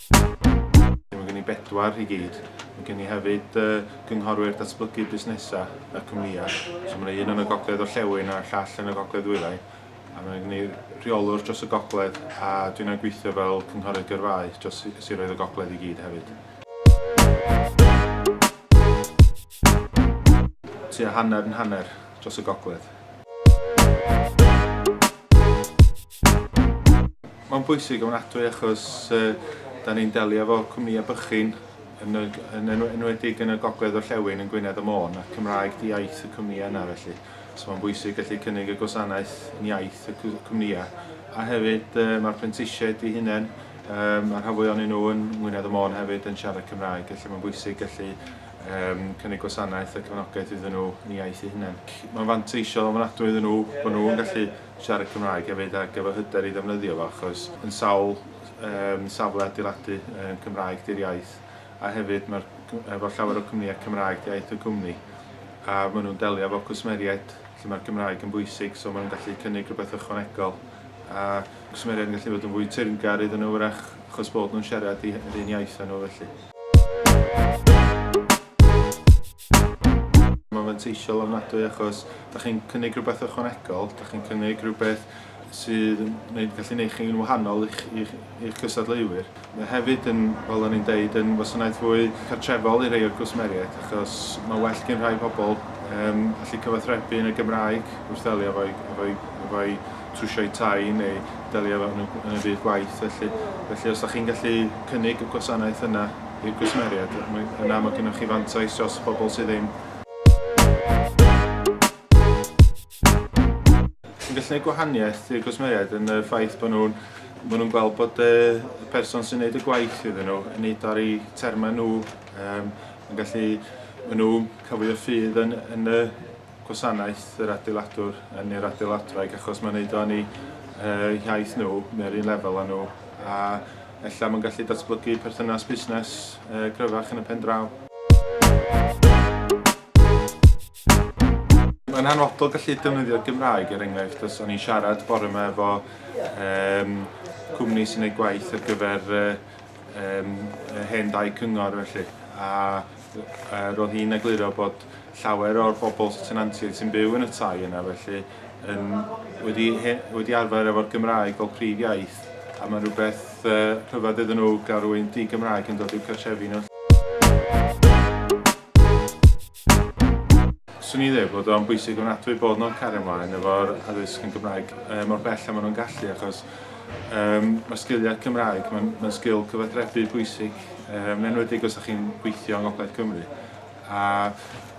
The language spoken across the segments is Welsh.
Mae gen i bedwar i gyd. Mae gen i hefyd uh, gynghorwyr datblygu busnesau y cwmnïau. So mae yna un yn y gogledd orllewin a'r llall yn y gogledd wyddau. A mae gen i rheolwr dros y gogledd a dwi'n gweithio fel cynghorydd gyrfaoedd dros siroedd y gogledd i gyd hefyd. Tua hanner yn hanner dros y gogledd. Mae'n bwysig ofnadwy achos dan ni'n delio efo cwmnïau bychin, yn enwedig yn y gogledd orllewin yn Gwynedd a Môn, a Cymraeg 'di iaith y cwmnïau yna felly. So mae'n bwysig gallu cynnig y gwasanaeth yn iaith y cwmnïau. A hefyd mae'r prentisiaid i hunain, mae'r rhan fwyaf ohonyn nhw yn Ngwynedd a Môn hefyd yn siarad Cymraeg, felly mae'n bwysig gallu cynnig gwasanaeth a cefnogaeth iddyn nhw yn eu iaith eu hunain. Mae'n fanteisiol ofnadwy iddyn nhw bod nhw'n gallu siarad Cymraeg hefyd ac efo hyder i ddefnyddio fo achos yn sawl yym safle adeiladu yn Cymraeg 'di'r iaith a hefyd mae'r efo llawer o cwmnïau Cymraeg 'di iaith y cwmni a maen nhw'n delio efo cwsmeriaid lle mae'r Gymraeg yn bwysig so maen nhw'n gallu cynnig rhywbeth ychwanegol a cwsmeriaid yn gallu bod yn fwy teyrngar iddyn nhw wrach achos bod nhw'n siarad yr un iaith â nhw felly. Mae'n fanteisiol ofnadwy achos dach chi'n cynnig rhywbeth ychwanegol, dach chi'n cynnig rhywbeth sydd yn neud, gallu neud chi'n wahanol i'ch, i'ch, i'ch cystadleuwyr. Mae hefyd yn, fel o'n i'n deud, yn wasanaeth fwy cartrefol i rei o'r cwsmeriaid achos mae well gyn rhai pobl um, allu cyfathrebu yn y Gymraeg wrth ddelio efo'i, efo'i, efo'i trwsio'u tai neu delio efo hwnnw yn y byd gwaith felly. Felly os da chi'n gallu cynnig y gwasanaeth yna i'r gwsmeriaid, yna mae gennych chi fantais dros bobl sydd ddim yn gallu gwneud gwahaniaeth i'r gwsmeriaid yn y ffaith bod nhw'n maen nhw'n gweld bod y person sy'n gwneud y gwaith iddyn nhw yn neud ar eu termau nhw, um, yn gallu maen nhw cafwyd y ffydd yn, yn y gwasanaeth yr adeiladwr yn i'r adeiladwraig achos mae'n neud o yn eu uh, hiaith nhw neu'r un lefel â nhw a ella mae'n gallu datblygu perthynas busnes uh, gryfach yn y pen draw. Mae'n hanfodol gallu defnyddio'r Gymraeg er enghraifft os o'n i'n siarad bore yma efo um, cwmni sy'n ei gwaith ar gyfer uh, um, hen dau cyngor felly a uh, roedd hi'n egluro bod llawer o'r bobl sy tenantiaid sy'n byw yn y tai yna felly yn wedi he, wedi arfer efo'r Gymraeg fel prif iaith a mae'n rhywbeth uh, rhyfedd iddyn nhw gael rhywun di-Gymraeg yn dod i'w cartrefi nhw. Swn i ddweud bod o'n bwysig ofnadwy bod nhw'n cario ymlaen efo'r addysg yn Gymraeg uh, mor bell a maen nhw'n gallu achos um, mae sgiliau Cymraeg, mae'n ma sgil cyfathrebu bwysig, um, enwedig os ydych chi'n gweithio yng Ngogledd Cymru. A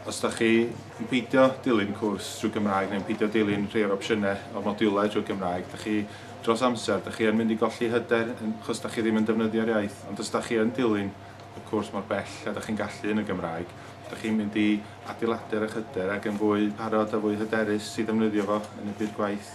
os dach chi yn peidio dilyn cwrs drwy Gymraeg neu'n peidio dilyn rhai o'r opsiynau o'r modiwlau drwy Gymraeg, dach chi dros amser, dach chi yn mynd i golli hyder achos dach chi ddim yn defnyddio'r iaith, ond os dach chi yn dilyn y cwrs mor bell a dach chi'n gallu yn y Gymraeg, dach chi'n mynd i adeiladu'r eich hyder ac yn fwy parod a fwy hyderus i ddefnyddio fo yn y byd gwaith.